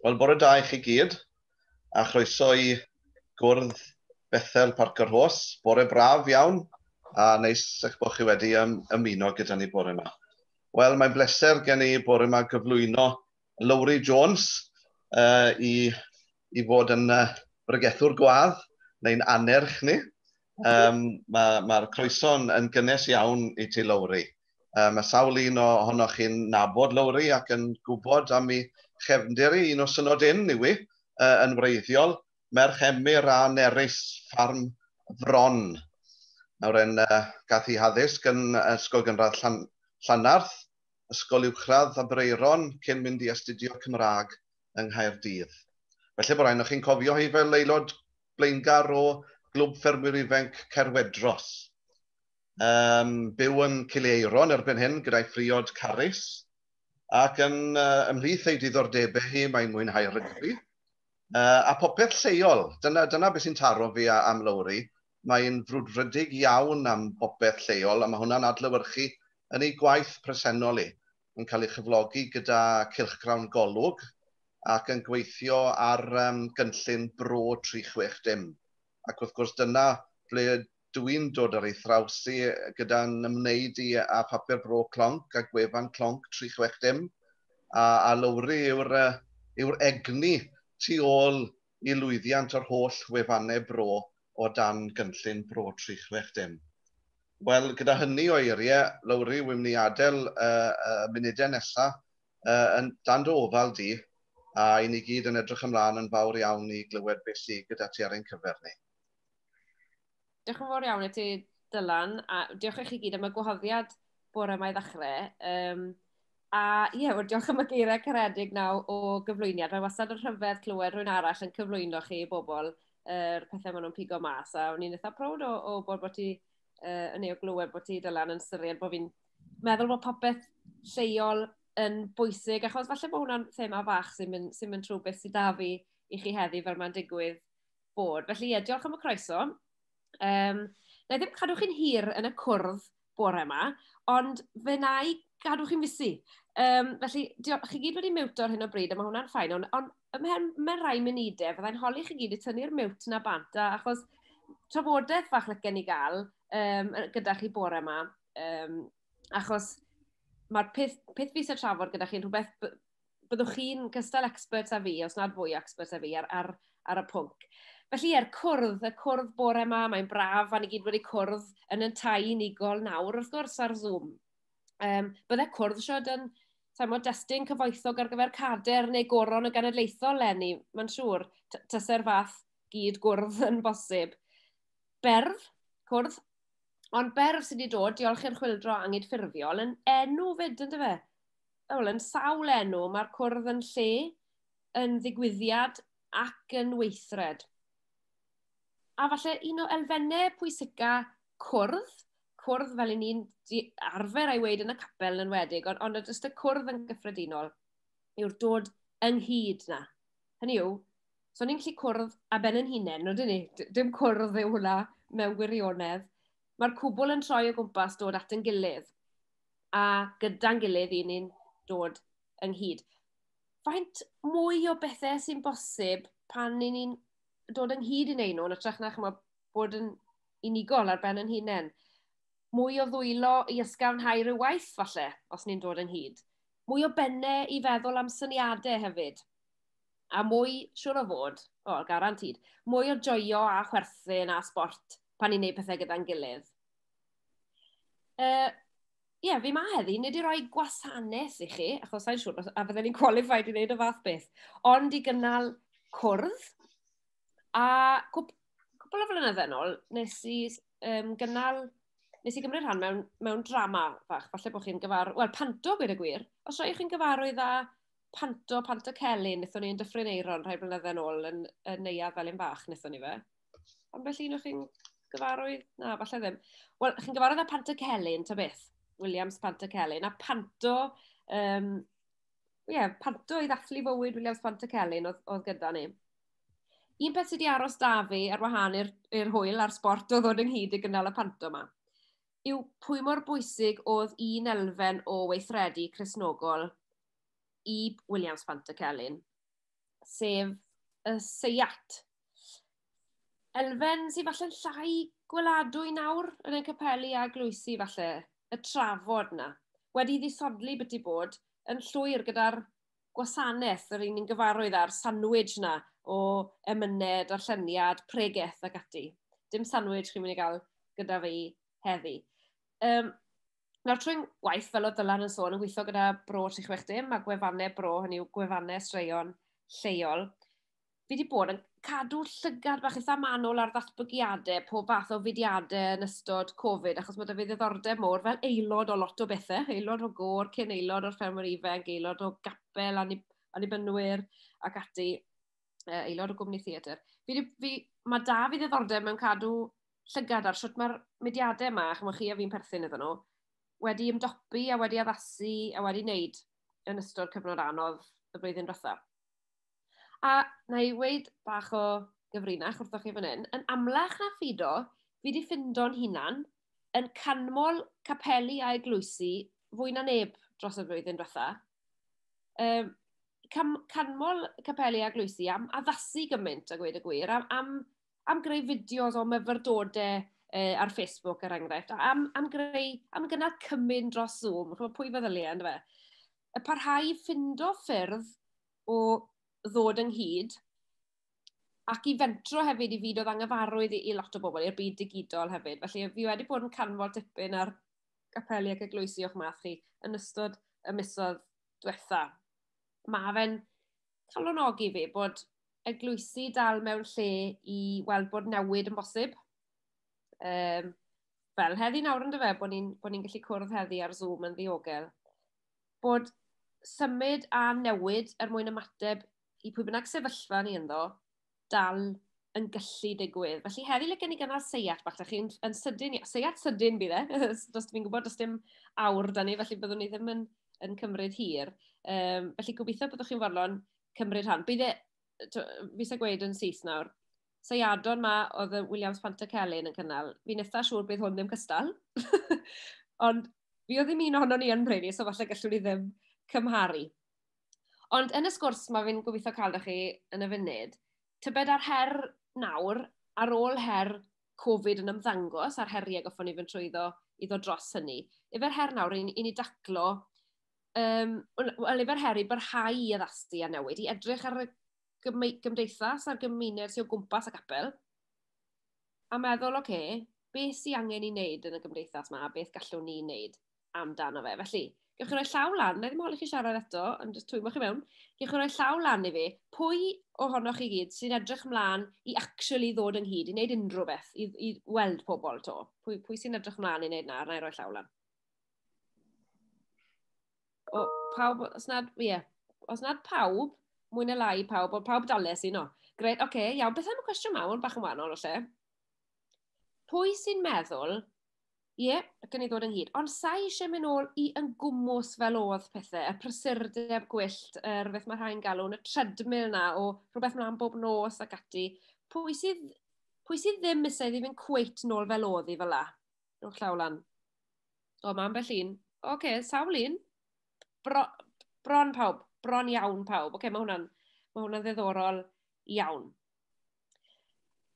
Wel, bore da i chi gyd, a chroeso i gwrdd Bethel Parc yr Hos. Bore braf iawn, a neis eich bod chi wedi ym, ymuno gyda ni bore yma. Wel, mae'n bleser gen i bore yma gyflwyno Lowri Jones uh, i i fod yn uh, bregethwr gwadd neu'n anerch ni. Um, Mae'r ma, croeso'n yn gynnes iawn i ti, Lowri. Um, mae sawl un ohonoch chi'n nabod Lowri ac yn gwybod am ei chefndir i un o synod un i wi, uh, yn wreiddiol, merch emyr a nerys ffarm fron. Nawr yn uh, gath i haddysg yn Ysgol Gynradd Llan, Llanarth, Ysgol Uwchradd Abreiron cyn mynd i astudio Cymraeg yng Nghaerdydd. Falle bod rhai ohonoch chi'n cofio hi fel aelod blaengar o Glwb Ffermwyr Ifainc Caerwedros. Um, byw yn Cileiron erbyn hyn gyda'i phriod Carys, ac yn uh, ymhlith ei diddordebau hi mae'n mwynhau rygbi, uh, a popeth lleol. Dyna, dyna beth sy'n taro fi am Lowri. Mae'n frwdfrydig iawn am bopeth lleol, a mae hwnna'n adlywyrchu yn ei gwaith presennol i. yn cael ei chyflogi gyda cylchgrawn Golwg ac yn gweithio ar gynllun Bro 360. Ac wrth gwrs dyna ble dw i'n dod ar ei thraws hi gyda'n ymwneud i â Phapur Bro Clonc a gwefan Clonc 360 a lowri yw'r egni tu ôl i lwyddiant yr holl wefannau bro o dan gynllun Bro 360? Wel, gyda hynny o eiriau, Lowri, wi'n mynd i adael y munudau nesaf yn dan dy ofal di, a i ni gyd yn edrych ymlaen yn fawr iawn i glywed beth sy gyda ti ar ein cyfer ni. Diolch yn fawr iawn i ti, Dylan, a diolch i chi gyd am y gwahoddiad bore mae ddechrau. Um, a ie, yeah, wel, diolch am y geiriau caredig naw o gyflwyniad. Mae wastad yn rhyfedd clywed rhywun arall yn cyflwyno chi i bobl yr uh, pethau maen nhw'n pigo mas. A o'n i'n eitha prowd o, o bod bod ti uh, yn ei o glywed bod ti, Dylan, yn syried bod fi'n meddwl bod popeth lleol yn bwysig, achos falle bod hwnna'n thema fach sy'n mynd, sy mynd trwy beth sydd da fi i chi heddi fel mae'n digwydd bod. Felly, ie, diolch am y croeso. Um, na i ddim cadw chi'n hir yn y cwrdd bore yma, ond fe na i gadw chi'n fusu. Um, felly, diolch, chi gyd wedi miwt o'r hyn o bryd, a mae hwnna'n ffain, ond on, ymhen mewn rai munudau, fyddai'n holi chi gyd i tynnu'r miwt na bant, a, achos trafodaeth fach lygen i gael um, gyda chi bore yma, um, achos mae'r peth, peth fi sy'n trafod gyda chi'n rhywbeth byddwch chi'n gystal expert a fi, os nad fwy expert a fi, ar, ar, ar y pwnc. Felly, er cwrdd, y cwrdd bore yma, mae'n braf, a ni gyd wedi cwrdd yn y tai unigol nawr, wrth gwrs, ar Zoom. Um, bydde cwrdd siod yn, sa'n modd, destun cyfoethog ar gyfer cader neu goron y genedlaethol, Lenny, mae'n siŵr, tyse'r fath gyd gwrdd yn bosib. Berf, cwrdd, ond berf sydd wedi dod, diolch i'r chwildro angydffurfiol, yn enw fyd, ynddo fe? wel, yn sawl enw, mae'r cwrdd yn lle, yn ddigwyddiad ac yn weithred. A falle un o elfennau pwysica cwrdd, cwrdd fel i ni'n arfer a'i weid yn y capel yn wedig, ond, ond jyst y cwrdd yn gyffredinol, yw'r dod ynghyd na. Hynny yw, so ni'n gallu cwrdd a ben yn hunain, no dyn ni? Dim cwrdd yw hwnna mewn gwirionedd. Mae'r cwbl yn troi o gwmpas dod at yn gilydd. a gyda'n gilydd i ni'n dod ynghyd. Faint mwy o bethau sy'n bosib pan ni'n ni'n dod ynghyd i'n ein nhw'n ytrach na chymod, bod yn unigol ar ben yn hunain. Mwy o ddwylo i ysgafnhau rhyw waith, falle, os ni'n dod ynghyd. Mwy o bennau i feddwl am syniadau hefyd. A mwy, siwr o fod, o, garantid, mwy o joio a chwerthin a sport pan ni'n gwneud pethau gyda'n gilydd. Uh, Ie, yeah, fi ma heddi, nid i roi gwasanaeth i chi, achos sa'n siŵr a fydden ni'n qualified i wneud y fath beth, ond i gynnal cwrdd. A cwp, cwpl o flynyddoedd yn ôl, nes i um, gynnal, nes i gymryd rhan mewn, mewn drama fach, falle bod chi'n gyfar... Wel, panto, gwir y gwir. Os rhaid chi'n gyfarwydd â panto, panto celyn, nethon ni'n dyffryn eiron rhai flynyddoedd yn ôl yn, yn neuad fel un fach, nethon ni fe. ambell un o'ch chi'n gyfarwydd? Na, falle ddim. Wel, chi'n gyfarwydd â Panto Celyn, ta beth? Williams Panto Celyn. A Panto, um, ie, yeah, Panto i ddathlu fywyd Williams Panto Celyn oedd, oedd gyda ni. Un peth sydd wedi aros da fi ar wahan i'r hwyl a'r sport oedd ddod ynghyd i gynnal y Panto yma yw pwy mor bwysig oedd un elfen o weithredu Cresnogol i Williams Fanta Celyn, sef y seiat elfen sy'n falle'n llai gweladwy nawr yn ein capeli a glwysi falle, y trafod yna. Wedi ddisodli byti bod yn llwyr gyda'r gwasanaeth, yr un ni'n gyfarwydd â'r sandwich yna o emyned, arlleniad, pregeth ac ati. Dim sandwich chi'n mynd i gael gyda fi heddi. Um, nawr trwy'n gwaith, fel o Dylan yn sôn, yn gweithio gyda bro 36 dim a gwefannau bro, hynny yw gwefannau straeon lleol, fi wedi bod yn cadw llygad bach eitha manwl ar ddatblygiadau pob fath o fudiadau yn ystod Covid, achos mae dy fi ddiddordeb mor fel aelod o lot o bethau, aelod o gôr, cyn aelod o'r ffermwyr ifanc, aelod o gapel, anibynwyr ac ati, aelod o gwmni theatr. Fi, fi, mae da fi ddiddordeb mewn cadw llygad ar sut mae'r mudiadau yma, chymwch chi a fi'n perthyn iddyn nhw, wedi ymdopi a wedi addasu a wedi wneud yn ystod cyfnod anodd y blwyddyn diwethaf. A na i weid bach o gyfrinach wrthoch chi fan hyn, yn amlach na ffido, fi di ffindo'n hunan yn canmol capeli a eglwysi fwy na neb dros y flwyddyn diwetha. Um, cam, canmol capeli a glwysi am addasu gymaint a gweud y gwir, am, am, am greu fideos o myfyrdodau uh, ar Facebook er enghraifft, am, am greu, am gynnal cymyn dros Zoom, chymod pwy feddyliau, ynddo fe? Y parhau ffindo ffyrdd o ddod ynghyd ac i fentro hefyd i fyd oedd angyfarwydd i, i lot o bobl, i'r byd digidol hefyd. Felly, fi wedi bod yn canfod dipyn ar gapeli ac eglwysi o'ch math chi yn ystod y misodd diwetha. Mae fe'n calonogi fi bod eglwysi dal mewn lle i weld bod newid yn bosib. Um, fel heddi nawr yn dyfe, bod ni'n ni gallu cwrdd heddi ar Zoom yn ddiogel. bod symud a newid er mwyn ymateb i pwy bynnag sefyllfa ni ynddo, dal yn gallu digwydd. Felly heddi le gen i gynnal seiat bach, da chi'n yn sydyn, seiat sydyn bydd e, does fi'n gwybod, does dim awr da ni, felly byddwn ni ddim yn, yn cymryd hir. Um, felly gobeithio byddwch chi'n fodlon cymryd rhan. Bydd e, fi eisiau gweud yn Sus nawr, seiadon ma oedd y Williams Pantacelyn yn cynnal. Fi'n eitha siŵr bydd hwn ddim cystal. Ond fi oedd ddim un ohono ni yn Brady, so falle gallwn ni ddim cymharu. Ond yn y sgwrs mae fi'n gobeithio cael da chi yn y funud, tybed ar her nawr, ar ôl her Covid yn ymddangos a'r heriau goffon ni fynd trwyddo i ddod dros hynny, efer her nawr i, i ni daclo, um, well, efer her i barhau i addasdu a newid, i edrych ar y gymdeithas a'r gymuned sy'n o gwmpas y capel, a meddwl, oce, okay, beth sy'n angen i wneud yn y gymdeithas yma, a beth gallwn ni wneud amdano fe. Felly, gewch chi roi llaw lan, na ddim holi chi siarad eto, ond jyst twymo chi mewn, gewch chi roi llaw lan i fi, pwy ohonoch chi gyd sy'n edrych mlaen i actually ddod ynghyd, i wneud unrhyw beth, i, i weld pobl to? Pwy, pwy sy'n edrych mlaen i wneud na, na i roi llaw lan? o, pawb, os nad, ie, yeah, os nad pawb, mwy na lai pawb, ond pawb dales i, no. Gret, oce, okay, iawn, beth am y cwestiwn mawr, bach yn wahanol o lle. Pwy sy'n meddwl, ie, yeah, gen i ddod ynghyd, ond sa'i eisiau mynd ôl i yn gwmwys fel oedd pethau, y prysurdeb gwyllt, yr er, beth mae rhai'n galw, y treadmill na, o rhywbeth mlaen bob nos ac ati. Pwy sydd, pwy sydd ddim eisiau iddi fynd cweit nôl fel oedd i fel la? Rhowch llaw lan. O, mae ambell un. Oce, okay, sawl un. Bro, bron pawb. Bron iawn pawb. Oce, okay, mae hwnna'n ma hwnna ddiddorol iawn.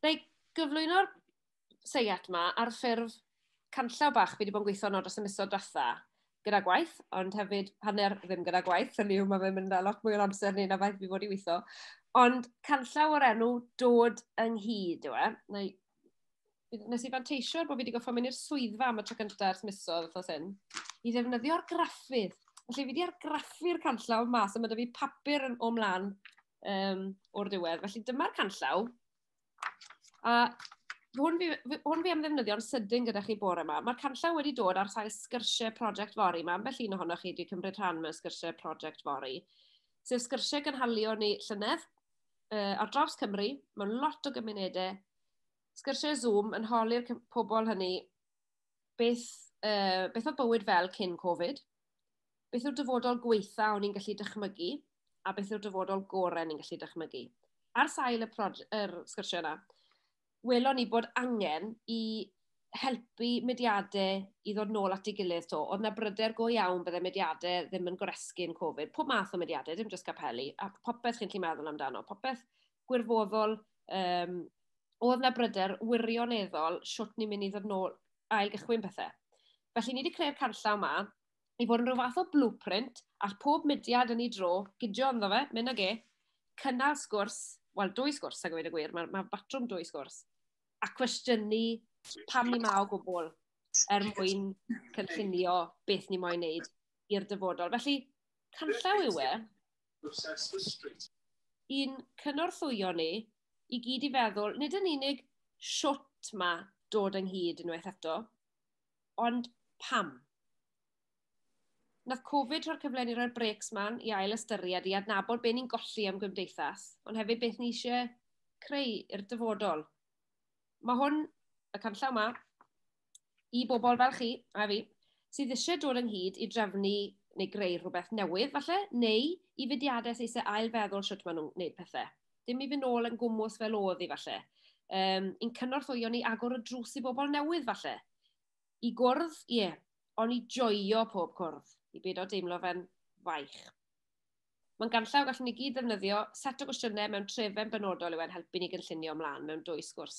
Na i gyflwyno'r seiat yma ar ffurf canllaw bach fi wedi bod yn gweithio nod dros y misoedd diwetha gyda gwaith, ond hefyd hanner ddim gyda gwaith, hynny yw mae fe'n mynd â lot mwy o'r amser ni na faith fi fod i weithio. Ond canllaw o'r enw dod ynghyd yw e. Na i nes i fanteisio bod fi wedi goffa mynd i'r swyddfa am y tro cyntaf ers misoedd wrth os hyn, i ddefnyddio'r graffydd. Felly fi wedi argraffu'r canllaw mas, a mae da fi papur yn o mlaen um, o'r diwedd. Felly dyma'r canllaw. A hwn fi, hwn fi am ddefnyddio'n sydyn gyda chi bore yma. Mae'r canllaw wedi dod ar sail sgyrsiau prosiect fori. Mae ambell un ohonoch chi wedi cymryd rhan mewn sgyrsiau prosiect fori. Sef sgyrsiau gynhalio ni llynedd uh, ar draws Cymru, mewn lot o gymunedau sgyrsiau Zoom yn holi'r pobl hynny beth, uh, beth oedd bywyd fel cyn Covid, beth yw'r dyfodol gweitha o'n i'n gallu dychmygu, a beth yw'r dyfodol gorau ni'n gallu dychmygu. Ar sail y er sgyrsiau yna, welon ni bod angen i helpu mediadau i ddod nôl at ei gilydd to. Oedd na bryder go iawn byddai mediadau ddim yn goresgu'n Covid. Pob math o mediadau, dim jyst capelli, a popeth chi'n lli meddwl amdano. Popeth gwirfoddol, um, oedd na bryder wirioneddol siwt ni'n mynd i ddod nôl ail gychwyn pethau. Felly ni wedi creu'r canllaw yma i fod yn rhyw fath o blueprint all pob mudiad yn ei dro gydio ynddo fe, mynd ag e, cynnal sgwrs, wel dwy sgwrs ag wedi gwir, mae, mae batrwm dwy sgwrs, a cwestiynu pam ni ma o gwbl er mwyn cynllunio beth ni moyn wneud i'r dyfodol. Felly, canllaw yw e, I'n cynorthwyo ni i gyd i feddwl, nid yn unig shwt ma dod ynghyd unwaith eto, ond pam. Nath Covid rhoi'r cyfle i ni roi'r brêcs man i ail ystyried, i adnabod be ni'n golli am gymdeithas, ond hefyd beth ni eisiau creu i'r dyfodol. Mae hwn, y canllaw ma, i bobl fel chi a fi, sydd eisiau dod ynghyd i drefnu neu greu rhywbeth newydd falle, neu i fudiadau sy'n eisiau ailfeddwl sut maen nhw'n gwneud pethau. Dim i fynd nôl yn gwmwys fel oedd i falle. Um, i'n cynorthwyo ni agor y drws i bobl newydd falle. I gwrdd, ie, yeah, ond i joio pob cwrdd, i byd o deimlo fe'n faich. Mae'n ganllaw gallwn ni gyd ddefnyddio, set o gwestiynau mewn trefen benodol yw e'n helpu ni gynllunio ymlaen mewn dwy sgwrs.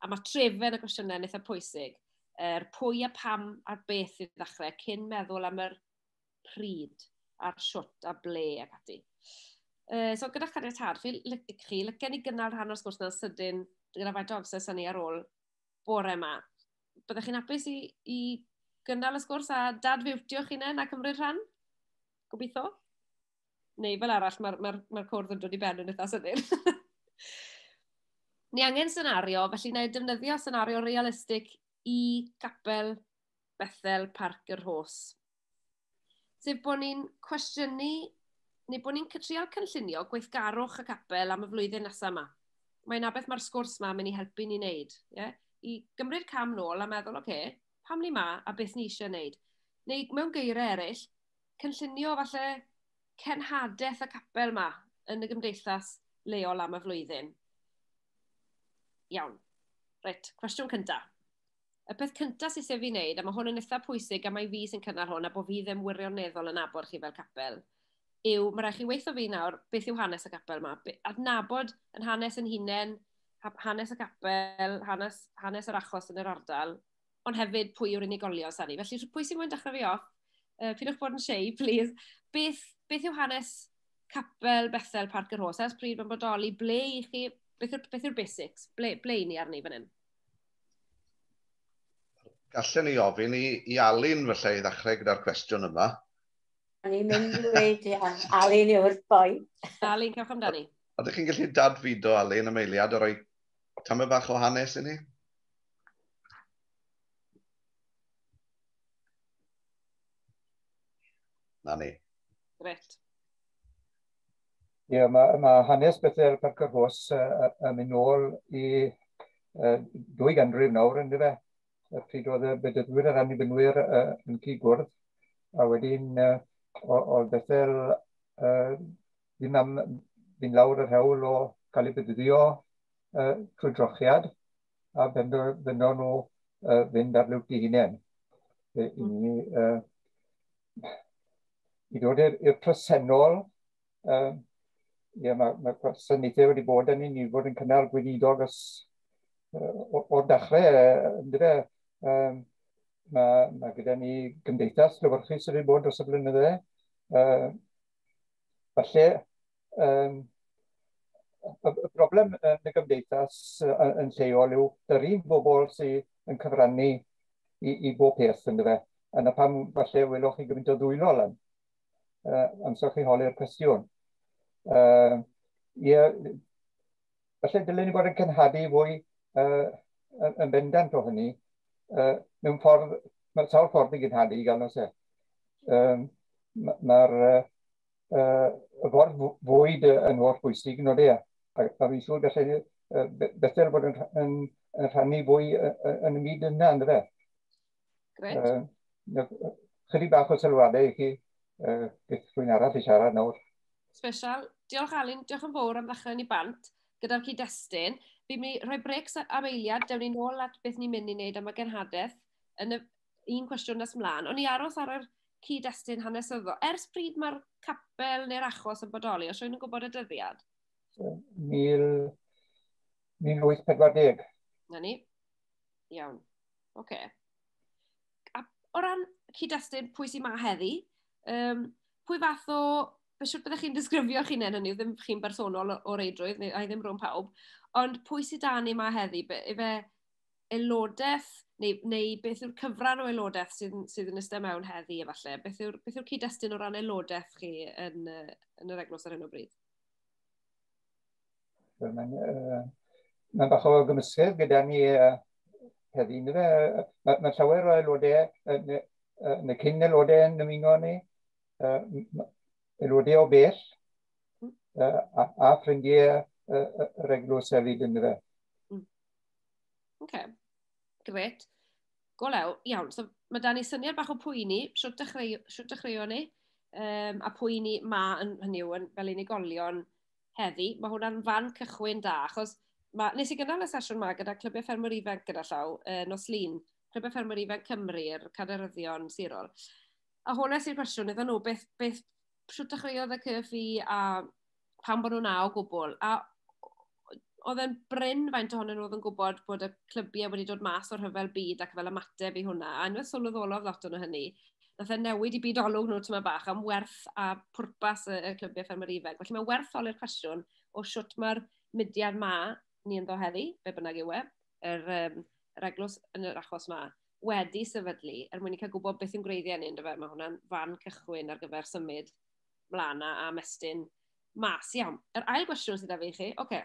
A mae trefen y gwestiynau yn eitha pwysig, yr pwy a pam a'r beth i ddechrau cyn meddwl am yr pryd a'r shwt a ble ac ati. Uh, so gyda chaniatad chi, chi lygen ni gynnal rhan o'r sgwrs na'n sydyn gyda faint o amser sy'n ni ar ôl bore yma. Byddech chi'n hapus i, i gynnal y sgwrs a dadfiwtio chi nen a cymryd rhan? gobeithio. Neu fel arall, mae'r ma ma cwrdd yn dod i ben yn eitha sydyn. Ni angen senario, felly na i defnyddio senario realistig i capel Bethel Parc yr Hos. Sef bod ni'n cwestiynu, neu bod ni'n trial cynllunio gweithgarwch y capel am y flwyddyn nesaf yma. Mae'n abeth mae'r sgwrs yma mynd i helpu ni wneud. Yeah? I gymryd cam nôl a meddwl, oce, okay, pam ni ma a beth ni eisiau wneud. Neu mewn geiriau eraill, cynllunio falle cenhadaeth y capel yma yn y gymdeithas leol am y flwyddyn. Iawn. Reit, cwestiwn cyntaf. Y peth cyntaf sydd sef i wneud, a mae hwn yn eitha pwysig am mae fi sy'n cynnal hwn a bod fi ddim wirioneddol yn abod chi fel capel, yw, mae rhaid chi weithio fi nawr beth yw hanes y capel yma. Adnabod yn hanes yn hunain, hanes y capel, hanes, hanes yr achos yn yr ardal, ond hefyd pwy yw'r unigolion sy'n ni. Felly, pwy sy'n mwyn dechrau fi off? Uh, pidwch bod yn shei, please. Beth, beth yw hanes capel Bethel Parc yr Hosas? Pryd mae'n bodoli? Ble i chi? Beth yw'r beth yw basics? Ble, ble i ni arni fan hyn? Gallen ni ofyn i, i Alun felly i ddechrau gyda'r cwestiwn yma. A ni'n mynd i wedi Alun yw'r boi. Alun, cewch amdani. Oeddech chi'n gallu dadfido Alun am eiliad a rhoi Tamed bach o hanes i ni. Na ni. Gret. Ie, yeah, mae ma hanes Bethel Parc yr Hos uh, uh, yn mynd nôl i uh, dwy ganrif nawr yn dyfa. Y pryd oedd y bedyddwyr a'r annibynnwyr uh, yn cyd gwrdd. A wedyn uh, oedd Bethel uh, ddim am fynd lawr yr hewl o gael ei bedyddio uh, trwy drochiad a bendo, bendo nhw uh, fynd ar liwt i hunain. I, i, uh, i ddod i'r presennol, uh, ie, mae, mae gwasanaethau wedi bod yn ni fod yn cynnal gweinidog os, uh, o'r dechrau, uh, ynddo um, mae, mae gyda ni gymdeithas llyfrchus wedi bod dros y blynydde, uh, Felly, um, y, y broblem yn y gymdeithas yn lleol yw yr un bobl sydd yn cyfrannu i, i bob peth yn dyfa. Yna pam falle welwch chi gymaint o ddwylo lan uh, amser chi holi'r cwestiwn. Uh, ie, felly dylen ni fod yn cynhadu fwy uh, yn bendant o hynny. Uh, mewn ffordd, mae sawl ffordd i gynhadu i gael nos e. Um, Mae'r uh, uh, y ffordd fwyd yn holl bwysig yn oedde, a, a fi'n siŵr gallai uh, Bethel bod yn, yn, yn rhannu fwy yn y myd yna, ynddo fe. Gret. Uh, chydig bach o sylwadau i chi, uh, beth rwy'n arall i siarad nawr. Special. Diolch Alun, diolch yn fawr am ddechrau ni bant gyda'r cyd-destun. Fi'n mynd i rhoi brecs am eiliad, dewn ni'n ôl at beth ni'n mynd i wneud am y genhadaeth yn y un cwestiwn nes mlaen. Ond i aros ar yr cyd-destun hanesyddol, ers pryd mae'r capel neu'r achos yn bodoli, os rwy'n gwybod y dyddiad? 1840. Na ni. Iawn. Oce. Okay. A o ran cyd-destun, pwy sy'n ma heddi, um, pwy fath o... Fe siwr byddwch chi'n disgrifio chi'n hyn hynny, ddim chi'n bersonol o reidrwydd, neu ai ddim rhwng pawb, ond pwy sydd dan ni ma heddi? Be, efe aelodaeth, neu, neu beth yw'r cyfran o aelodaeth sydd, sydd yn ystod mewn heddi, efallai? Beth yw'r yw, yw cyd-destun o ran aelodaeth chi yn, yn yr eglwys ar hyn o bryd? Mae'n uh, ma bach o gymysgedd gyda ni uh, heddi. Mae ma, ma llawer o aelodau, uh, uh, neu cyn aelodau yn ymuno ni, uh, aelodau o bell, uh, a, a ffrindiau uh, uh, reglws hefyd yn fe. Mm. OK, gret. Go lew, iawn. So, mae da ni syniad bach o pwy ni, siwt dechreuo ni, um, a pwy ni ma yn hynny yw, fel unigolion, heddi, mae hwnna'n fan cychwyn da, achos ma, nes i gynnal y sesiwn yma gyda Clybiau Ffermwyr Ifanc gyda llaw, e, nos lun, Clybiau Ffermwyr Ifanc Cymru, yr caderyddion sirol. A hwnna sy'n cwestiwn iddyn nhw, beth, beth siwt dechreuodd y cyf i a pan bod nhw'n a o gwbl. A oedd e'n bryn faint ohonyn nhw oedd yn gwybod bod y clybiau wedi dod mas o'r rhyfel byd ac fel ymateb i hwnna. A nhw'n sylweddolodd lot o'n hynny. Nath e newid i byd olwg nhw tyma bach am werth a pwrpas y, y clybiau ffermwyr ifanc. Felly mae werth oli'r cwestiwn o siwt mae'r mudiad ma ni ynddo heddi, be bynnag yw e, yr, um, yr eglwys yn yr achos ma, wedi sefydlu er mwyn i cael gwybod beth yw'n gwreiddiau ni, ynddo fe? Mae hwnna'n fan cychwyn ar gyfer symud mlaen a mestyn mas. Iawn, yr ail gwestiwn sydd â fi chi, oce, okay,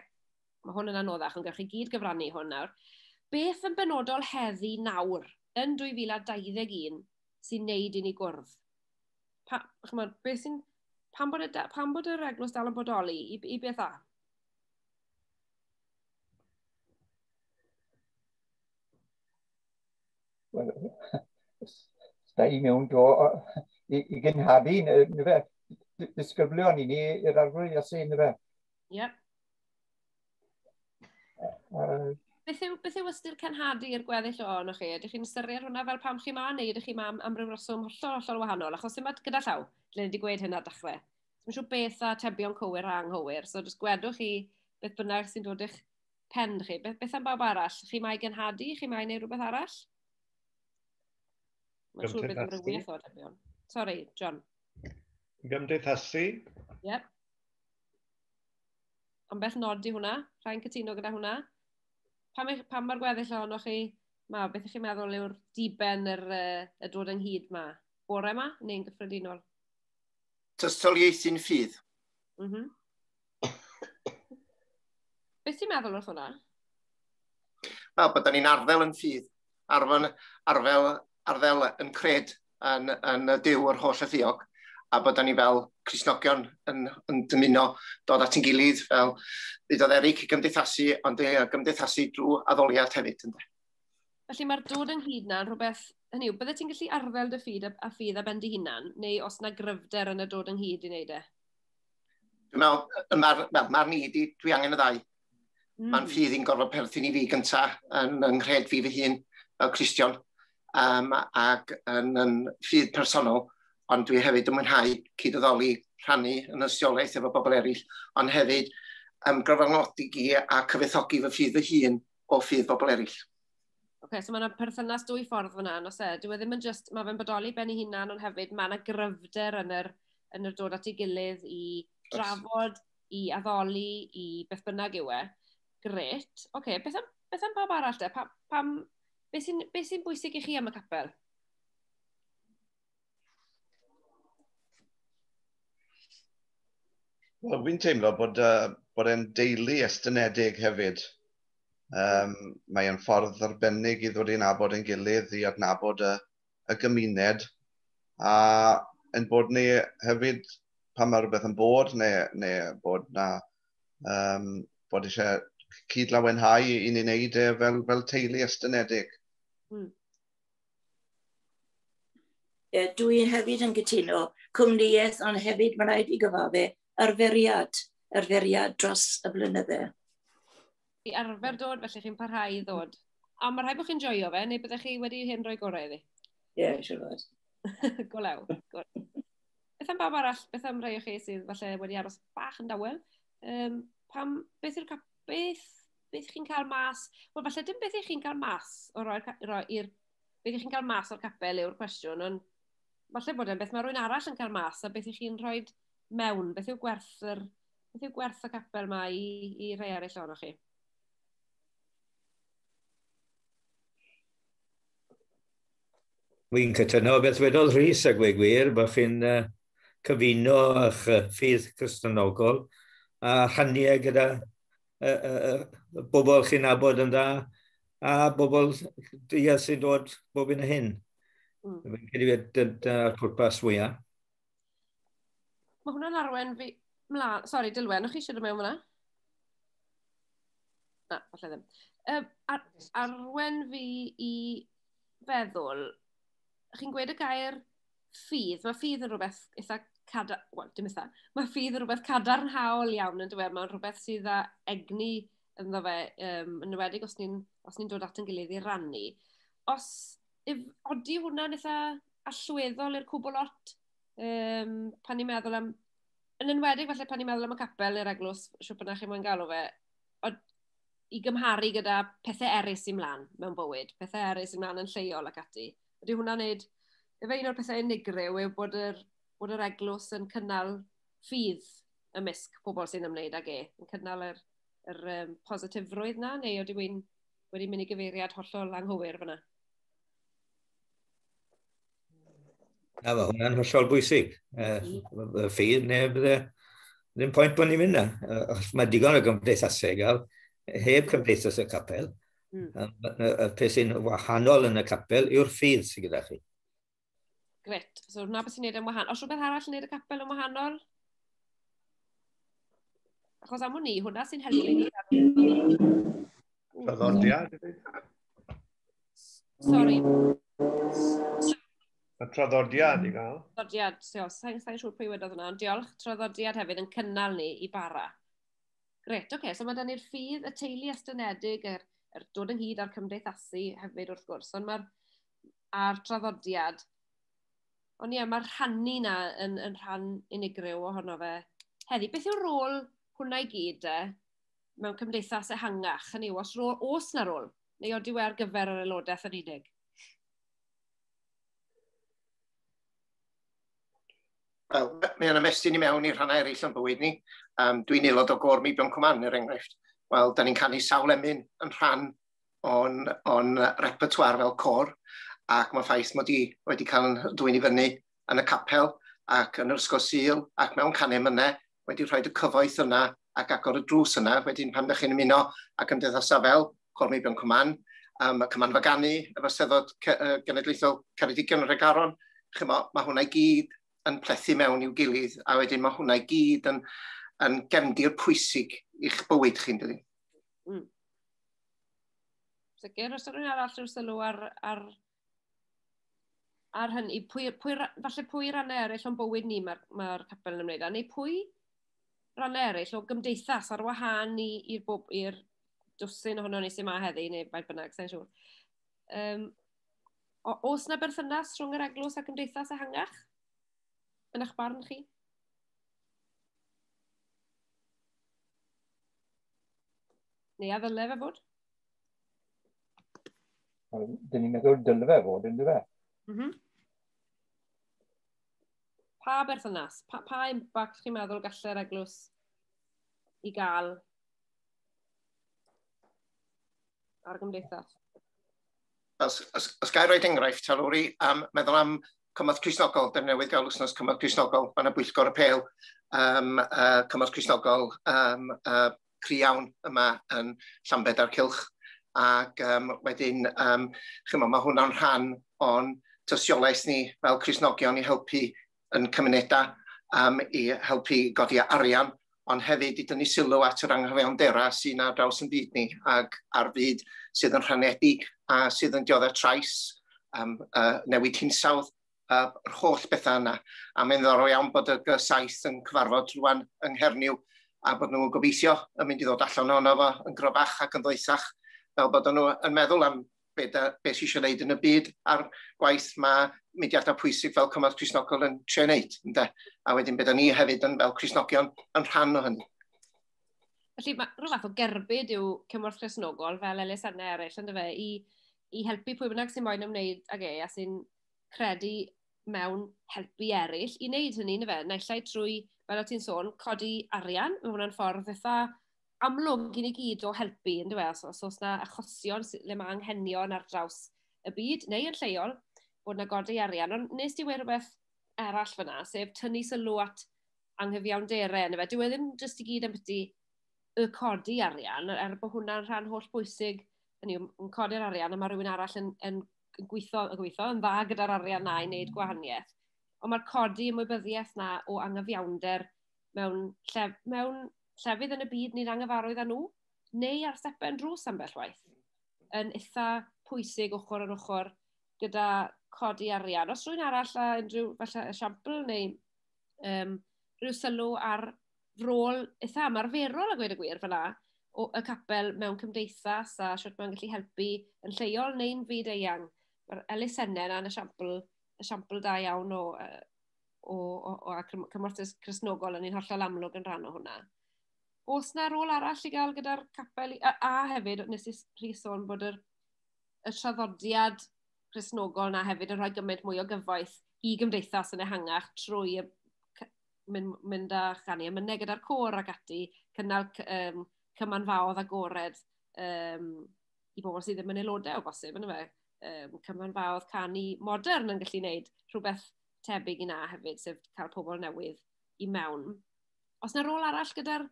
Mae hwn yn anoddach, ond gallwch chi gyd gyfrannu i hwn nawr. Beth yn benodol heddi nawr, yn 2021, sy'n neud i ni gwrdd? Pa, chymod, beth sy'n... Pam bod, y, pam bod yr eglwys dal yn bodoli? I, i beth a? Da i mewn do i, i gynhadu, neu fe, disgyblion i ni i'r arglwydd Iesu, neu fe. Ie. Uh, Beth yw, beth yw ystyr cenhadu i'r gweddill o yno chi? Ydych chi'n ystyried hwnna fel pam chi ma, neu ydych chi ma am, am ryw reswm hollol, hollol wahanol? Achos yma gyda llaw, dylai wedi gweud hynna dechrau. Dwi'n siŵr beth a tebion cywir a anghywir, so jyst gwedwch chi beth bynnag sy'n dod i'ch pen chi. Beth, beth am bawb arall? Chi mae genhadu? Chi mae neu rhywbeth arall? Mae'n siŵr beth yw'r wyth o tebion. Sorry, John. Gymdeithasu? Yep. Ond beth nod i hwnna? Rha'n cytuno gyda hwnna? Pam, eich, pam mae'r gweddill ohonoch chi? Ma, beth ych chi'n meddwl yw'r diben yr, uh, y dod ynghyd ma? Bore ma neu'n gyffredinol? Tystiolaethu'n ffydd. Mm -hmm. Beth ti'n meddwl wrth hwnna? Wel, bod ni'n arddel yn ffydd, arfel, arfel, arddel yn cred yn, yn y Duw o'r holl ythiog, a bod ni fel Crisnogion yn, yn dymuno dod at ein gilydd fel ddudodd Eric i gymdeithasu, ond i gymdeithasu drwy addoliad hefyd. Ynddo. Felly mae'r dod ynghyd na'n rhywbeth, hynny yw, bydde ti'n gallu arddel dy ffyd a, a ffydd a ben dy hunan, neu os na gryfder yn y dod ynghyd i wneud e? Dwi'n meddwl, mae'r ma, ma ni, dwi angen y ddau. Mm. Mae'n ffydd i'n gorfod perthyn i fi gyntaf yn yng nghred fi fy hun fel Cristion um, ac yn, yn ffydd personol, ond dwi hefyd yn mwynhau cyd-addoli rhannu yn ystiolaeth efo bobl eraill, ond hefyd um, gyfranogdi i a cyfethogi fy ffydd fy hun o ffydd bobl eraill. Oce, okay, so mae yna perthynas dwy ffordd fyna, nos e. Dwi e ddim yn just, mae fe'n bodoli ben ei hunan, ond hefyd mae yna gryfder yn yr, yn yr dod at ei gilydd i drafod i addoli, i beth bynnag yw e, gret. Oce, okay, beth, am, beth am pawb arall de? Pa, pam, be sy'n sy bwysig i chi am y capel? Wel, fi'n teimlo bod, uh, bod e'n deulu estynedig hefyd. Um, mae'n ffordd arbennig i ddod i'n abod yn gilydd, i adnabod y, y gymuned a ein bod ni hefyd pan mae rhywbeth yn bod neu, neu bod na um, bod eisiau cyd-lawenhau i ni'n neud e fel, fel teulu estynedig. Mm. E, dwi hefyd yn gytuno cwmnïaeth ond hefyd mae'n rhaid i gyfafu arferiad, arferiad dros y blynydde. i arfer dod, felly chi'n parhau i ddod. A mae rhaid bod chi'n joio fe, neu byddech chi wedi hyn rhoi gorau iddi? Ie, yeah, siwr fod. go law. Beth am bawb arall, beth am rhai o chi sydd falle wedi aros bach yn dawel? Um, pam, beth yw'r beth, beth chi'n cael mas? Wel, falle dim beth ych chi'n cael mas o roi'r roi i'r... Beth ych chi'n cael mas o'r capel yw'r cwestiwn, ond falle bod e'n beth mae rhywun arall yn cael mas a beth ych chi'n rhoi mewn, beth yw gwerth yr Beth yw gwerth y capel mae i, i rhai arall o'n chi? Wy'n cytuno beth wedodd Rhys a gwe gwir, bod chi'n uh, cyfuno eich ffydd Cristonogol a rhannu e gyda uh, uh, uh, bobl chi'n abod yn dda a bobl dydd sy'n dod bob un o hyn. Mm. Fi'n credu bod dyna'r pwrpas fwyaf. Mae hwnna'n arwen fi... Mla... Sori, Dilwen, o'ch chi eisiau dod mewn fyna? Na, falle ddim. Um, ar, arwen fi i feddwl, chi'n gweud y gair ffydd, mae ffydd yn rhywbeth eitha cadar, wel, dim eitha, mae ffydd yn rhywbeth cadarnhaol iawn yn dweud, mae'n rhywbeth sydd â egni ynddo fe, um, yn ywedig os ni'n ni dod at yn gilydd i rannu. Os If, odi hwnna'n eitha allweddol i'r cwbl lot, um, pan ni'n meddwl am... Yn enwedig falle pan ni'n meddwl am y capel neu'r eglwys, siwp yna chi'n mwyn galw fe, od, i gymharu gyda pethau eraill sy'n mlaen mewn bywyd, pethau eraill sy'n mlaen yn lleol ac ati. Ydy hwnna'n neud... Efe un o'r pethau unigryw yw bod yr, bod yr eglwys yn cynnal ffydd ymysg pobl sy'n ymwneud ag e, yn cynnal yr, yr um, positifrwydd na, neu ydy wy'n wedi mynd i gyfeiriad hollol anghywir fyna. Na, mae hwnna'n hollol bwysig. Uh, ffydd neu bydde, ddim pwynt bod ni'n mynd na. Uh, mae digon o gymdeithasau i gael, heb cymdeithas y capel. Mm. Y peth sy'n wahanol yn y capel yw'r ffydd sy'n gyda chi. Gret. So, na beth sy'n neud yn wahanol. Os rhywbeth arall yn neud y capel yn wahanol? Achos am hwn i, hwnna sy'n helpu ni. Traddodiad. Sorry. Y traddodiad i gael. Traddodiad, so, sa'n sa siŵr pwy wedodd hwnna, ond diolch. Traddodiad hefyd yn cynnal ni i bara. Gret, oce. Okay. So mae da ni'r ffydd, y teulu estynedig, yr, yr dod ynghyd a'r cymdeithasu hefyd wrth gwrs. Ond mae'r a'r traddodiad. Ond ie, mae'r rhannu na yn, yn rhan unigryw ohono fe. Heddi, beth yw'r rôl hwnna i gyd e, mewn cymdeithas ehangach? Hynny yw, os, rôl, os na rôl, neu oeddi we ar gyfer yr aelodaeth yn unig? Wel, mae yna mestyn i mewn i'r rhannau eraill o'n bywyd ni. Um, Dwi'n aelod o gor Meibion Cwman, er enghraifft. Wel, da ni'n canu sawl emyn yn rhan o'n, on repertoire fel cor, ac mae'n ffaith mod i wedi cael yn dwy'n i fyny yn y capel ac yn yr ysgol syl ac mewn canem yna, wedi rhoi y cyfoeth yna ac agor y drws yna, wedyn pan ydych chi'n ymuno ac yn dyddosa fel Cor Meibion Cwman, um, y Cyman Fagani, y Faseddod Genedlaethol Ceredigion y Rhegaron, chymo, mae hwnna i gyd yn plethu mewn i'w gilydd, a wedyn mae hwnna i gyd yn, yn gefndir pwysig i'ch bywyd chi'n dydyn. Mm. Sicr, os ydyn arall rhyw sylw ar, ar, ar hynny, pwy, pwy, falle pwy rannau eraill o'n bywyd ni mae'r ma, ma capel yn ymwneud â, neu pwy rannau eraill o gymdeithas ar wahân i'r bob, i'r dwsyn ohono ni sy'n ma heddi, neu faint bynnag, sa'n siŵr. Um, o, os na berthynas rhwng yr eglwys a gymdeithas ehangach? Yn eich barn chi? Neu a ddyle fe fod? Dyn ni'n meddwl dyle fe fod, yn dweud. Mm -hmm. Pa berthynas, pa, pa impact chi'n meddwl gallai'r eglwys i gael ar y gymdeithas? Os, os, os gael rhoi enghraifft, ta Lowri, um, meddwl am Cymorth Crisnogol, dyn newydd gael wsnos Cymorth Crisnogol, fan y bwyllgor y pel, um, uh, Cymorth Crisnogol um, uh, cry iawn yma yn Llambed a'r Cylch ac um, wedyn um, chymo, mae hwnna'n rhan o'n tystiolaeth ni fel Cresnogion i helpu yn cymunedau um, i helpu godi arian ond hefyd i dynnu sylw at yr anghywioneddau sy'n ar draws yn byd ni ac ar fyd sydd yn rhanedig a sydd yn dioddef trais um, uh, newid hinsawdd uh, yr holl bethau yna. A mae'n ddorol iawn bod y G7 yn cyfarfod rwan yng Nghernyw a bod nhw'n gobeithio yn mynd i ddod allan ohono fo yn grobach ac yn ddoethach fel bod nhw yn meddwl am be, da, be sy'n eisiau gwneud yn y byd a'r gwaith mae mudiadau pwysig fel Cymraeg Crisnogol yn trio wneud. Ynde? A wedyn beth ni hefyd yn, fel Crisnogion yn rhan o hynny. Felly mae rhyw fath o gerbyd yw Cymraeg Crisnogol fel elusennau eraill yn dyfa i, i helpu pwy bynnag sy'n moyn ymwneud ag e a sy'n credu mewn helpu eraill i wneud hynny, na fe? Naill ai trwy, fel o ti'n sôn, codi arian, mae hwnna'n ffordd eitha amlwg i ni gyd o helpu, yn dweud, os, os oes yna achosion le mae anghenion ar draws y byd, neu yn lleol, bod yna godi arian. Ond nes ti wedi rhywbeth arall fyna, sef tynnu sylw at anghyfiawnderau, na fe? Dyw e ddim jyst i gyd am byti y codi arian, er bod hwnna'n rhan holl bwysig, yn codi'r arian, a mae rhywun arall yn, yn yn gweithio, yn gweithio yn dda gyda'r arian na i wneud mm. gwahaniaeth. Ond mae'r codi ymwybyddiaeth na o angyfiawnder mewn, lle, mewn llefydd yn y byd ni'n angyfarwydd â nhw, neu ar stepen drws ambell waith, yn eitha pwysig ochr yn ochr gyda codi arian. Os rwy'n arall a unrhyw falle esiampl neu um, rhyw sylw ar rôl eitha ymarferol a gweud y gwir fyna, o y capel mewn cymdeithas a sut mae'n gallu helpu yn lleol neu'n fyd eang. Mae'r elusennau yna yn esiampl, esiampl da iawn o, o, o, o a cymorthus Cresnogol yn un hollol amlwg yn rhan o hwnna. Os na rôl arall i gael gyda'r capel, a, a hefyd nes i rhi sôn bod yr, y traddodiad Cresnogol na hefyd yn rhoi gymaint mwy o gyfoeth i gymdeithas yn ehangach trwy y mynd, mynd â chani ymyneg gyda'r côr ac ati, cynnal um, cymanfaodd agored um, i bobl sydd ddim yn aelodau o bosib, yna fe, um, cymanfaodd canu modern yn gallu gwneud rhywbeth tebyg i na hefyd, sef cael pobl newydd i mewn. Os yna rôl arall gyda'r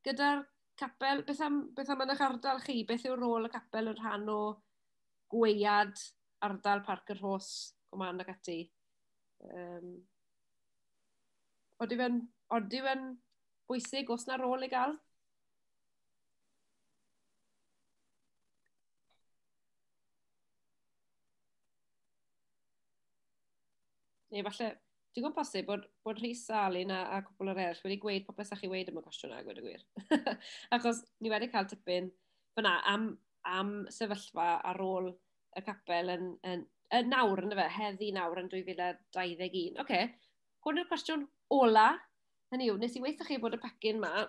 gyda capel, beth am, beth am yn eich ardal chi? Beth yw rôl y capel yn rhan o gweiad ardal Parc yr Hos, Gwman ac ati? Um, Oeddi fe'n, oeddi fe'n bwysig, os na rôl i gael? Neu falle, dwi'n gwybod posib bod, bod Rhys a Alun a, a cwpl o'r eraill wedi gweud popeth sa'ch chi wedi am y cwestiwn a gweud y gwir. Achos ni wedi cael tipyn fyna am, am sefyllfa ar ôl y capel yn, yn, yn nawr, yn fe, heddi nawr yn 2021. Oce, okay. hwn yw'r cwestiwn ola. Hynny yw, nes i weithio chi bod y pacyn ma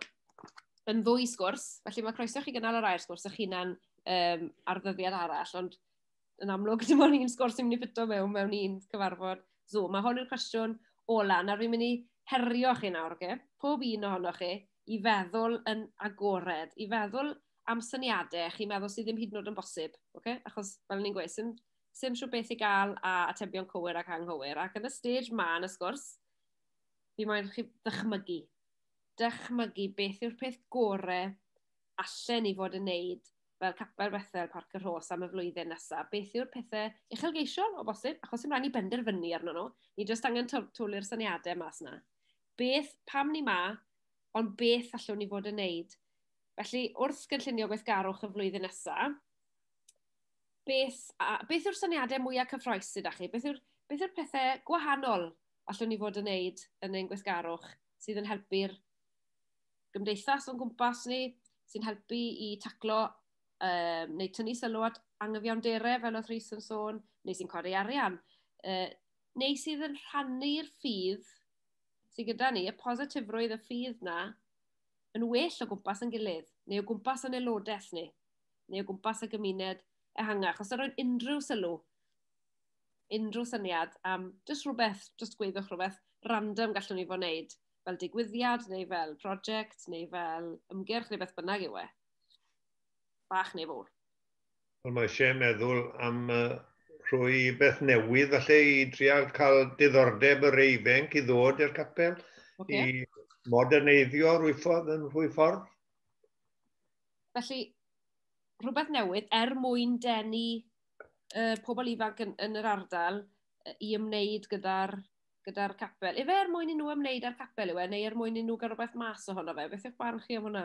yn ddwy sgwrs, felly mae croeso chi gynnal yr air sgwrs eich hunan um, ar ddyddiad arall, ond yn amlwg dim ond un sgwrs sy'n mynd i ffito mewn mewn un cyfarfod Zoom. Mae hwn yw'r cwestiwn ola. Nawr fi'n mynd i herio chi nawr, oce? Okay? Pob un ohonoch chi, i feddwl yn agored, i feddwl am syniadau chi'n meddwl sydd ddim hyd yn oed yn bosib, okay? achos fel ni'n gweud, sy'n sy'n siw beth i gael a atebion cywir ac anghywir. Ac yn y stage ma yn y sgwrs, fi moyn chi ddychmygu. Dychmygu beth yw'r peth gore allan ni fod yn neud fel Capel Bethel Parc yr Hos am y flwyddyn nesaf. Beth yw'r pethau uchelgeisiol o bosib, achos sy'n rhaid ni benderfynu arno nhw. Ni jyst angen twlu'r syniadau mas yna. beth pam ni ma, ond beth allwn ni fod yn neud. Felly, wrth gynllunio gweithgarwch y flwyddyn nesaf, beth, a, beth yw'r syniadau mwyaf cyffroes sydd â chi? Beth yw'r beth yw pethau gwahanol allwn ni fod yn neud yn ein gweithgarwch sydd yn helpu'r gymdeithas o'n gwmpas ni, sy'n helpu i taclo um, neu tynnu sylw at angyfiawnderau fel oedd Rhys yn sôn, neu sy'n codi arian, uh, neu sydd yn rhannu'r ffydd sydd gyda ni, y positifrwydd y ffydd na, yn well o gwmpas yn gilydd, neu o gwmpas yn aelodaeth ni, neu o gwmpas y gymuned ehangach. Os ydych unrhyw sylw, unrhyw syniad am jyst rhywbeth, jyst gweithio'ch rhywbeth random gallwn ni fod wneud, fel digwyddiad, neu fel prosiect, neu fel ymgyrch, neu beth bynnag yw e. Bach neu fawr. Wel, mae eisiau meddwl am uh, rhoi beth newydd, falle i drial cael diddordeb yr eifenc i ddod i'r capel, okay. i moderneiddio rwy ffordd yn rhwy ffordd. Felly, rhywbeth newydd er mwyn denu uh, pobl ifanc yn, yn yr ardal uh, i ymwneud gyda'r gyda capel. Efe er mwyn i nhw ymwneud â'r capel yw e, neu er mwyn i nhw gael rhywbeth mas ohono fe? Beth yw'ch barn chi am hwnna?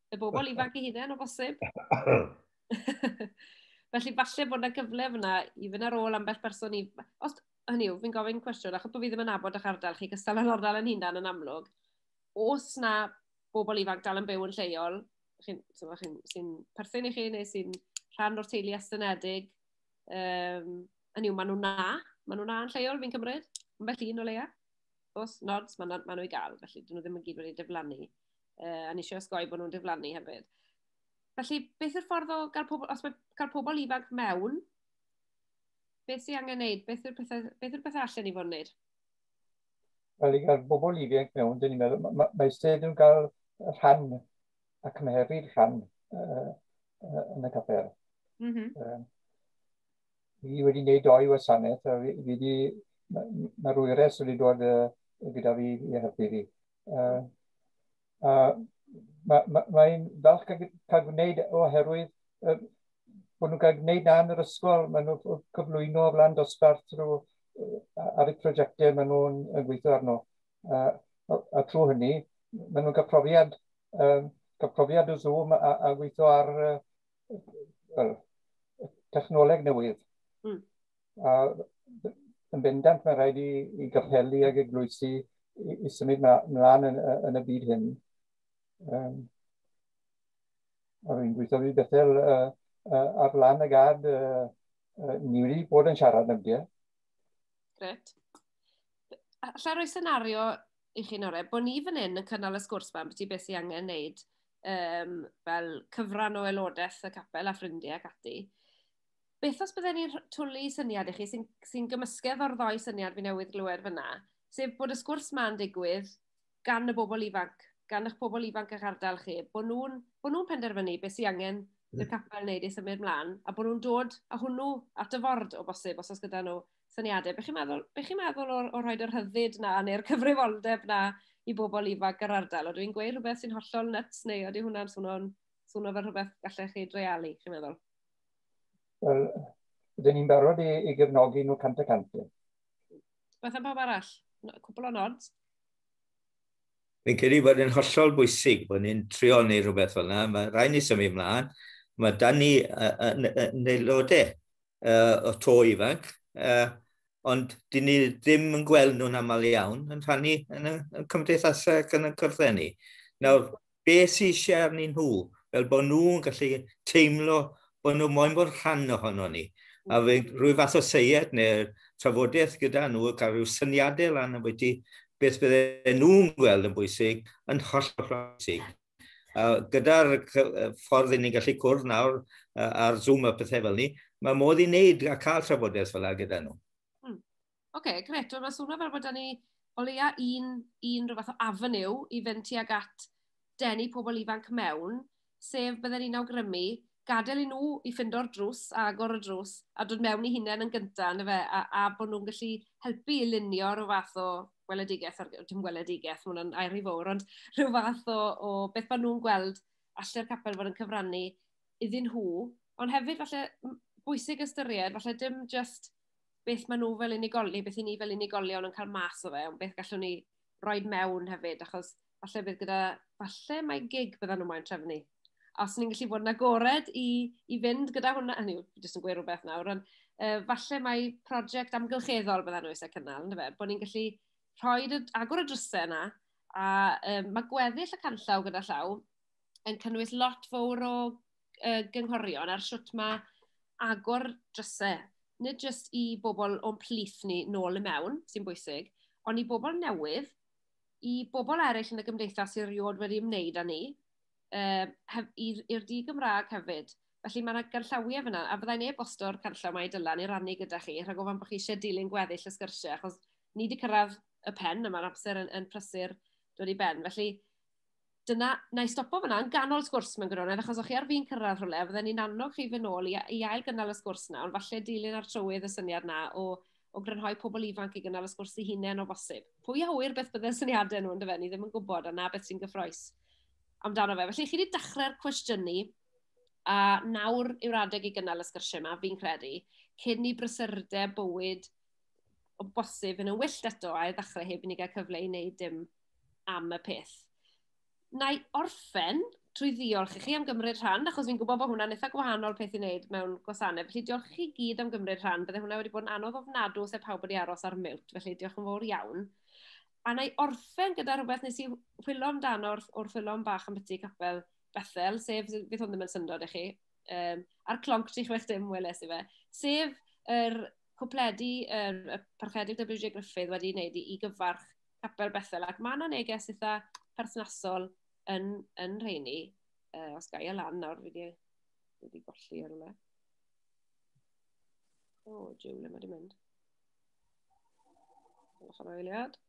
y bobl ifanc i hunain o bosib. Felly falle bod yna gyfle fyna i fynd ar ôl ambell person i... Os, hynny yw, fi'n gofyn cwestiwn, achos bod fi ddim yn abod o'ch ardal chi, gystal yn ardal yn hunan yn amlwg. Os na bobl ifanc dal yn byw yn lleol, sy'n sy perthyn i chi neu sy'n rhan o'r teulu estynedig, um, hynny yw, maen nhw'n na, maen nhw'n na yn lleol, fi'n cymryd, yn bell un o leia. Os nods, maen nhw, ma nhw i gael, felly dyn nhw ddim yn gyd wedi diflannu. uh, a nes i osgoi bod nhw'n diflannu hefyd. Felly, beth yw'r ffordd o gael pobl, os mae cael pobl ifanc mewn, beth sy'n angen wneud? Beth yw'r pethau, beth yw'r pethau allan i fod yn wneud? Wel, i gael bobl ifanc mewn, dyn ni'n meddwl, mae, mae, mae sedd yn cael rhan ac mae hefyd rhan uh, uh, yn y capel. Mm -hmm. uh, fi wedi gwneud doi wasanaeth a fi wedi, mae'r ma wyres wedi dod uh, gyda fi i helpu fi. Uh, uh, Mae'n ma, ma falch cael, cael gwneud oherwydd uh, bod nhw'n cael gwneud na yn yr ysgol, maen nhw'n cyflwyno o flan dosbarth trwy ar y prosiectau maen nhw'n gweithio arno. A, a, a trwy hynny, maen nhw'n cael profiad, um, cael profiad o Zoom a, a gweithio ar uh, well, technoleg newydd. Mm. a yn bendant mae rhaid i, i gapelu ag eglwysi i, i symud mlaen yn, yn y byd hyn. Um, a rwy'n gweithio fi Bethel uh, uh, ar lan y gad, uh, uh, ni wedi bod yn siarad am dia. Gret. Alla roi senario i chi'n orau, bod ni fan hyn yn cynnal y sgwrs fan beth i beth sy'n angen wneud um, fel cyfran o aelodaeth y capel a ffrindiau ac ati. Beth os bydden ni'n rh- twlu syniad i chi sy'n sy'n gymysgedd o'r ddou syniad fi newydd glywed fyna, sef bod y sgwrs 'ma'n digwydd gan y bobl ifanc, gan eich pobl ifanc a'ch ardal chi, bod nhw'n bod nhw'n penderfynu beth sy'n angen i'r capel wneud i symud mlaen, a bod nhw'n dod â hwnnw at y ford o bosib, os oes gyda nhw syniadau. Be chi'n meddwl, be chi'n meddwl o, o rhoi'r rhyddid na neu'r cyfrifoldeb na i bobl ifanc yr ardal? Oedden ni'n gweud rhywbeth sy'n hollol nuts neu ydy hwnna'n swnio'n swnio fel rhywbeth gallech chi dreialu, chi'n meddwl? Wel, rydyn ni'n barod i, i gefnogi nhw cant y cant. Beth am bawb arall? Cwbl o nod? Fi'n credu bod yn hollol bwysig bod ni'n trio neu rhywbeth fel yna. Mae rhaid ni symud ymlaen. Mae dan ni yn aelodau uh, o to ifanc, uh, ond dyn ni ddim yn gweld nhw'n aml iawn yn rhannu yn y, yn y cymdeithasau ac yn y cyrddau ni. Nawr, be sy'n eisiau arnyn nhw, fel bod nhw'n gallu teimlo bod nhw moyn bod rhan ohono ni. A fe, rwy fath o seied neu trafodaeth gyda nhw, cael rhyw syniadau lan am beth beth bydde nhw'n gweld yn bwysig, yn holl o bwysig. A gyda'r ffordd i ni'n gallu cwrdd nawr ar Zoom a pethau fel ni, mae modd i wneud a cael trafodaeth fel yna gyda nhw. Hmm. Oce, okay, gret. Wel, mae swnio fel bod ni o leia un, un rhyw fath o afonyw i fynd tuag at denu pobl ifanc mewn, sef bydden ni'n awgrymu gadael i nhw i ffindo'r drws, agor y drws, a dod mewn i hunain yn gyntaf, yna fe, a, a bod nhw'n gallu helpu i lunio rhyw fath o weledigaeth, ar, dim weledigaeth, mae hwnna'n air i fawr, ond rhyw fath o, o beth maen nhw'n gweld allai'r capel fod yn cyfrannu iddyn nhw, ond hefyd falle bwysig ystyried, falle dim just beth maen nhw fel unigolion, beth i ni fel unigolion yn cael mas o fe, ond beth gallwn ni roi mewn hefyd, achos falle bydd gyda, falle mae gig byddan nhw'n moyn trefnu. Os ni'n gallu bod yn agored i, i fynd gyda hwnna, hynny yw, jyst yn gweud rhywbeth nawr, ond uh, falle mae prosiect amgylcheddol byddan nhw eisiau cynnal, ynddo fe, bod ni'n gallu rhoi agor y drysau yna, a um, mae gweddill y canllaw gyda llaw yn cynnwys lot fawr o uh, gynghorion ar sut mae agor drysau, nid jyst i bobl o'n plith ni nôl y mewn, sy'n bwysig, ond i bobl newydd, i bobl eraill yn y gymdeithas sy'n rhywod wedi ymwneud â ni, uh, i'r di Gymraeg hefyd. Felly mae yna ganllawiau fyna, a byddai'n e-bosto'r canllaw mae i dylan i rannu gyda chi, rhag ofan bod chi eisiau dilyn gweddill y sgyrsiau, achos ni wedi cyrraedd y pen, a mae'r amser yn, yn prysur dod i ben. Felly, dyna, na i stopo fyna, yn ganol sgwrs mewn gwirionedd, achos o'ch chi ar fi'n cyrraedd rhywle, a fydden ni'n annog chi fy nôl i, i ail gynnal y sgwrs na, ond falle dilyn ar trywydd y syniad na o, o grynhoi pobl ifanc i gynnal y sgwrs i hunain o bosib. Pwy a hwyr beth bydde'r syniadau nhw yn dyfa, ni ddim yn gwybod, a na beth sy'n gyffroes amdano fe. Felly, chi wedi dechrau'r cwestiynu, a nawr yw'r adeg i gynnal y sgyrsiau yma, fi'n credu, cyn i brysurdeb bywyd o bosib yn y wyllt eto, a i ddechrau heb i ni gael cyfle i wneud dim am y peth. Na i orffen trwy ddiolch i chi am gymryd rhan, achos fi'n gwybod bod hwnna'n eitha gwahanol peth i wneud mewn gwasanaeth. Felly diolch i chi gyd am gymryd rhan. Bydde hwnna wedi bod yn anodd ofnadw os e pawb wedi aros ar miwt, felly diolch yn fawr iawn. A na i orffen gyda rhywbeth nes i chwilio amdano wrth, wrth chwilio am bach am byti capel Bethel, sef, fydd hwn ddim yn syndod i chi, um, a'r clonc 36 dim weles i fe, sef yr cwpledi, yr, y parchedig WJ Griffith wedi wneud i, i gyfarch capel Bethel, ac mae yna neges eitha perthnasol yn, yn rheini, uh, os gael e lan nawr, fi wedi golli ar yma. O, oh, jiw, le mae wedi mynd. Gwelwch am eiliad.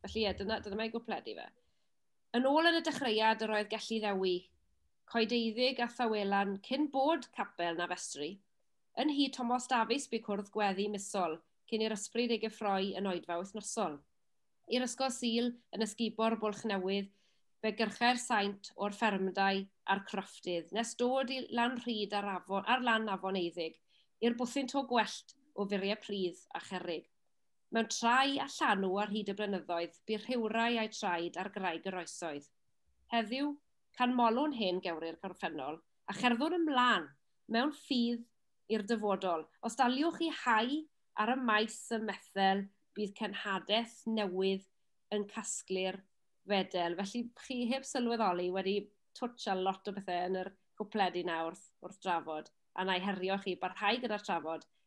Felly, ie, dyna, dyna mae gwpledu fe. Yn ôl yn y dechreuad, yr oedd gallu ddewi coedeiddig a thawelan cyn bod capel na festri, Yn nhŷ Tomos Dafis bu cwrdd gweddi misol cyn i'r ysbryd ei gyffroi yn oedfa wythnosol. I'r ysgol Sul, yn ysgubor Bwlch Newydd, fe gyrchai'r saint o'r ffermdai a'r crofftydd, nes dod i Lanrhyd ar afon, ar lan afon Eiddig, i'r bwthyn to gwellt o furiau pridd a cherrig. Mewn trai a llanw ar hyd y blynyddoedd bu rhiwrai a'u traed ar graig yr oesoedd. Heddiw, canmolwn hen gewri'r gorffennol, a cherddwn ymlan mewn ffydd i'r dyfodol. Os daliwch chi hau ar y maes ym Methel, bydd cenhadaeth newydd yn casglu'r fedel. Felly, chi heb sylweddoli wedi twtsh ar lot o bethau yn yr gwpled i nawr wrth drafod, a na i herio chi, barhau gyda'r trafod,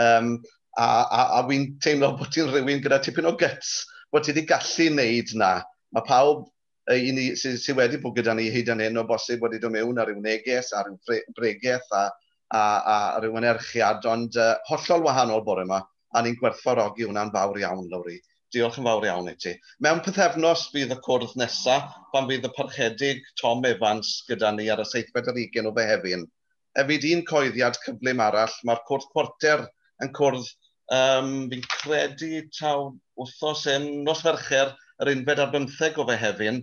Um, a a, a wy'n teimlo bod ti'n rhywun gyda tipyn o gyts, bod ti wedi gallu wneud na. Mae pawb i ni sydd sy wedi bod gyda ni hyd yn hyn o bosib wedi dod mewn ar ryw neges, ar ryw bregeth a, a, a ryw anerchiad, ond uh, hollol wahanol bore yma, a ni'n gwerthfawrogi hwnna'n fawr iawn, Lowri. Diolch yn fawr iawn i ti. Mewn pythefnos bydd y cwrdd nesaf pan fydd y parchedig Tom Evans gyda ni ar y seithfed ar ugen o Fehefin. hefyd un coeddiad cyflym arall, mae'r cwrt porter yn cwrdd, yym, fi'n credu taw wthnos hyn, nos Fercher, yr unfed ar bymtheg o Fehefin,